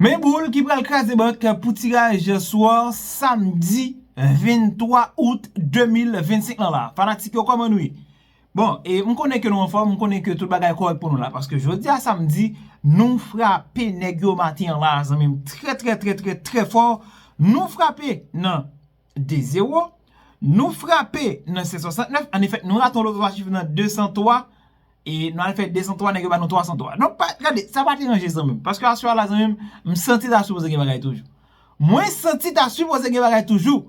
Men boule ki pral kraze bank pou tiraj sò samdi 23 out 2025 lan la. Fanatik yo kòman nou ye? Bon, e m konnen ke nou anfòm, m konnen ke tout bagay kòrèk pou nou la. Paske jodi a samdi, nou frape nèg yo maten an la zanmi m. Trè trè trè trè trè fò, nou frape nan. 2 zero nou frape nan 769 an efèt nou rate yon lòt 3 chif nan 203 e nou al fè 203 nèg yo ba nou 303 donk pa gade sa pa deranje zanmi m paske aswè a la zanmi m m santi ta sipoze gen bagay toujou mwen santi ta sipoze gen bagay toujou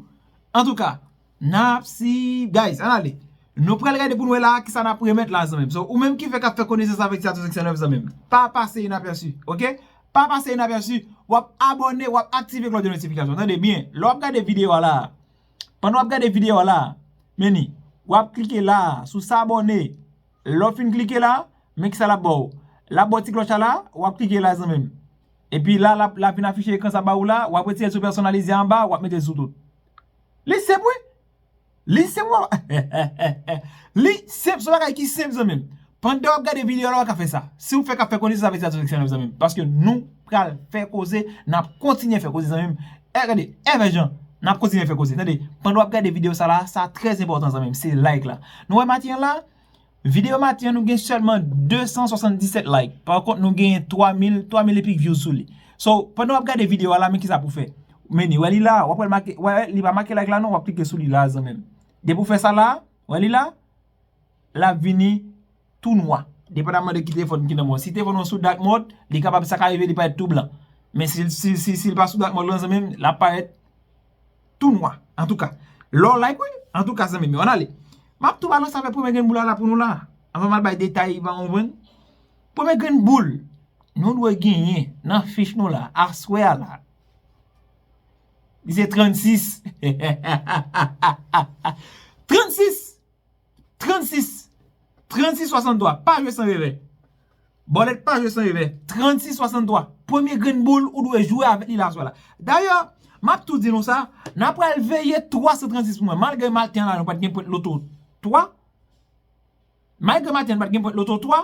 antouka n ap si guys ann ale nou pral gade pou n wè la a kisa n ap remèt la a zanmi m so ou menm ki fèk ap fè konesans avèk sa 769 zanmi m pa pase inapèsi ok Pa pase inapèsi, wap abòne, wap aktive klòch de notifikasyon. Tande byen, lè wap gade videyo a la a, pandan wap gade videyo a la a, men ni, wap klike la a, sou s'abonne. Lè w fin klike la, men kisa lap ba w? Lap ba w ti klòch a la a, wap klike la a zanmi m. Epi la, lap vin afiche ekran sa ba ou la a, wap retire l sou pèsonalize anba a, wap mete l sou tout. Li senp wi! Li se pou Li se pou bagay ki senp zanmim Pandan wap gade video la waka fè sa Si ou fè ka fè koze sa fè satisfèksyon nan zanmim Paske nou pral fè koze Nap kontinye fè koze zanmim E gade e vè jan Nap kontinye fè koze tande Pandan wap gade video sa la sa trè enpòtan zanmim se like la Nou wè matin an la Video maten an nou gen sèlman 277 like pa kont nou gen 3000 3000 epik vyouz sou li so pandan wap gade video a la men kisa pou fè meni wè li la wap wè make wè li pa make like la non wap klike sou li la zanmim depi ou fè sa la wè li la lap vini tou nwa depandaman de ki telefòn ki nan menw si telefòn ou an sou dark mode li kapab sa ka rive li parèt tou blan men sil pa sou dark mode lan zanmim lap parèt Tou nwa. Antouka. Lè w like wi. Antouka zanmi m yo. Ann ale. M ap tou ba nou save premye grenn boul la la pou nou la. Anvan m al bay detay m an konprann. Premye grenn boul. Nou dwe genyen nan fich nou la. Aswè a la. Li se 36. Hahahaha. 36. 36 36 63 pa jwe san revè Bòlèt pa jwe san revè 36 63 Premye grenn boul ou dwe jwe avèk li la aswè la Dayè M ap tou di nou sa N ap pral veye 336 pou mwen Malgre maten an la nou pa t gen pwent loto 3 Malgre maten an nou pa t gen pwent loto 3.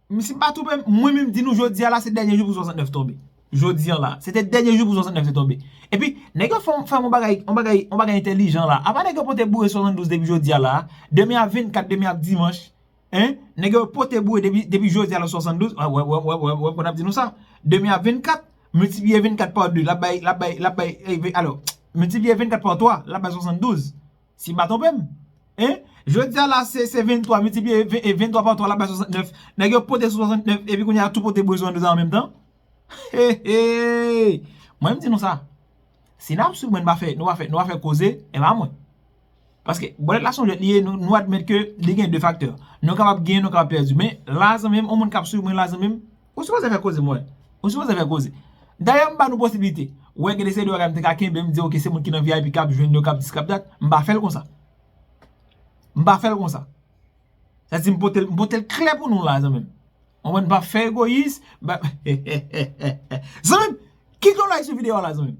M si m pa twonpe m, mwen menm di nou jodi a la se dènye jou pou 69 tonbe. Jodi an la. Se te dènye jou pou 69 te tonbe. Epi, nèg yo fè yon fè yon bagay, yon bagay, yon bagay entèlijan la. Apa nèg yo pote boure 72 depi jodi a la a? Demen ap 24, demen ap dimanch. Hein? Nèg yo pote boure depi, depi jodi a la 72. Wè, wè, wè, wè, wè, wè pwen ap di nou sa. Demen ap 24, miltipliye 24 pa 2, l ap bay, l ap bay, l ap bay, ey, alò, miltipliye 24 pa 3, l ap bay 72. Si m pa twonpe m. E, jodi a la se 23 miltipliye 23 pa 3 l ap bay 69. Nèg yo pote sou 69 epi kounye a tou pote bouch 22 an menm tan. Hehehey! Mwen m di nou sa. Si n ap swiv mwen nou pa fè nou pa fè nou pa fè koze, e pa mwen. Paske bòlèt la se yon jwèt li ye nou admèt ke li gen 2 faktè. Nou kapab genyen nou kapab pèdi. Men la zanmi m on moun k ap swiv mwen la zanmi m. Ou sipoze fè koze mwen. Ou sipoze fè koze. Dayè m ba nou posibilite. Ou wè gen de seri de bagay m te ka kenbe m di ok se moun ki nan vip kap jwenn yo kap dis kap dat. M pa fèl konsa. M pa fèl konsa. Sa di m potel m potel klè pou nou la zanmi m. Ou konprann m pa fè egoyis. Zanmi m kite yon like sou video a la zanmi m.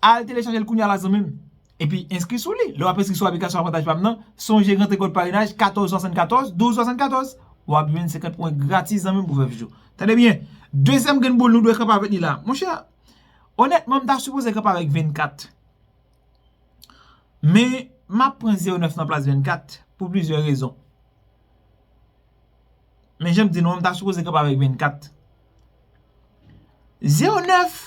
Al telechajel kounya la zanmim epi enskri sou li. Lè wap enskri sou aplikasyon avantaj pam nan, sonje gran trikòd parenaj 1474 1274 wap jwenn 50 pwen gratis zanmim pou vèv jou. Tande byen, dezyèm grenn boul nou dwe kanpe avèk li la. Monchè, onètman m ta sipoze kanpe avèk 24. Men, map pran 09 nan plas 24 pou plizyè rezon. Men janm di nou an m ta sipoze kanpe avèk 24. 09!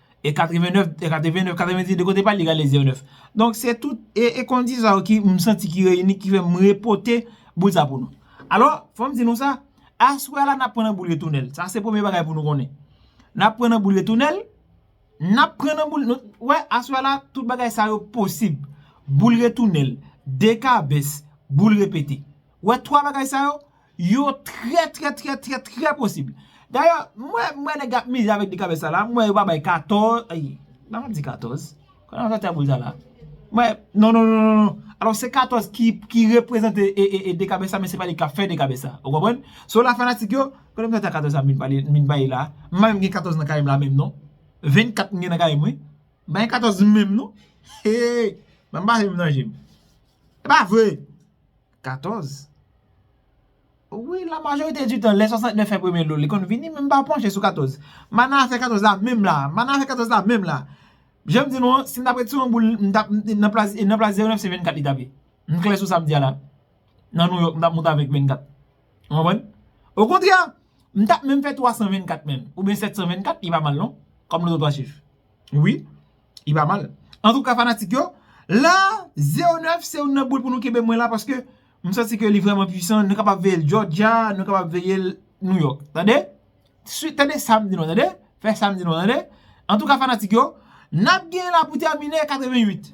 E 89, e 89, 90 de kote pral li gade 0 9. Donk se tout e kondisyon sa yo ki m santi ki reyini ki fè m repote boul sa pou nou. Alò, fò m di nou sa, aswè a la n ap pran nan boul retounèl. Sa se premye bagay pou nou konnen. N ap pran nan boul retounèl, n ap pran nan boul, nou wè aswè a la tout bagay sa yo posib. Boul retounèl, dekabès, boul repete. Wè 3 bagay sa yo, yo trè trè trè trè trè posib. Dayè, m wè nèg ap mize avèk 2 kabèt sa la, m wè yo pa bay 14, ayy, m pa ka di 14, kòl nan zantray boul sa la. M wè, non non non non non, alò se 14 ki reprezante 2 kabèt sa men se pa li k ap fè 2 kabèt sa, ou konprann? So la fanatik yo, kote m sòti ak 14 sa m vin bay la, m pa menm gen 14 nan kay m la menm non, 24 m gen nan kay m wi, m pa gen 14 menm non, hee, banm pa fè m nan je m. Pa vre! 14, Wi, la majorite di tan, lè 69 fè premye dlo l, li konn vini, men m pa panche sou 14. Mana afè 14 la menm la a. Mana afè 14 la a menm la a. Jan m di nou an, si m t ap retire yon boul, m t ap, nan plas, nan plas 09, se 24 li t ap ye. M klè sou sa m di a la a. Nan Nouyòk, m t ap monte avèk 24. Ou konprann? Okontrè, m t ap menm fè 324 menm, oubyen 724, li pa mal non, kòm lototwa chif. Wi. Li pa mal. Antouka fanatik yo, la Zero 9 se youn nan boul pou nou kenbe mwen la paske m santi ke li vrèman pwisan. Nou kapab veye l Jòjya, nou kapab veye l Nouyòk. Tande? Sui, tande sa m di nou an tande. Fè sa m di nou an tande. Antouka fanatik yo, n ap gen la pou tèmine 88.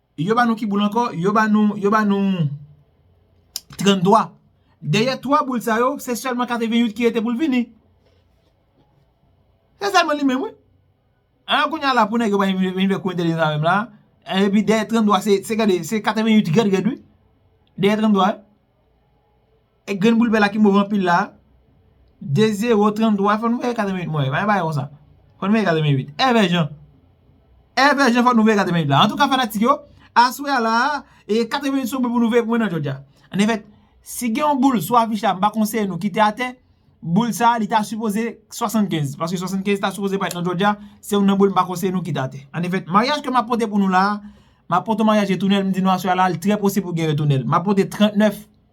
Yo ba nou ki boul ankò? Yo ba nou, yo ba nou 33. Dèyè 3 boul sa yo, se sèlman 88 ki rete pou l vini. Se sèlman li menm wi. An kounye a la pou nèg yo pa vin fè kou entèlijans avè m la. Epi dèyè 33 se gade, se 88 rèd rèd wi. Dèyè 33. E grenn boul bè la ki move anpil la. 2 0 33 fò nou veye 88 mwen. Mwen bay konsa. Fò nou veye 88. Evè jan. Evè jan fò nou veye 88 la. Antouka fanatik yo. Aswè a la. E 88 sou mwen pou nou veye pou mwen nan jodja. An efèt. Si gen yon boul sou afich la mpa konseye nou kite atè. Boul sa li ta sipoze 75. Paske 75 ta sipoze bay nan jodja. Se yon nan boul mpa konseye nou kite atè. An efèt. Maryaj ke map pote pou nou la. Map pote maryaj retounel. Mdi nou aswè a la. Li trè posib pou gen retounel. Map pote 39.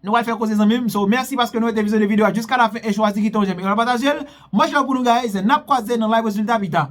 Nou pral fè koze zanmim so mèsi paske nou rete vizyone video a jiska lafen e chwazi kite yon jèm e yon patajel much love pou nou guys nap kwaze nan live rezilta pita.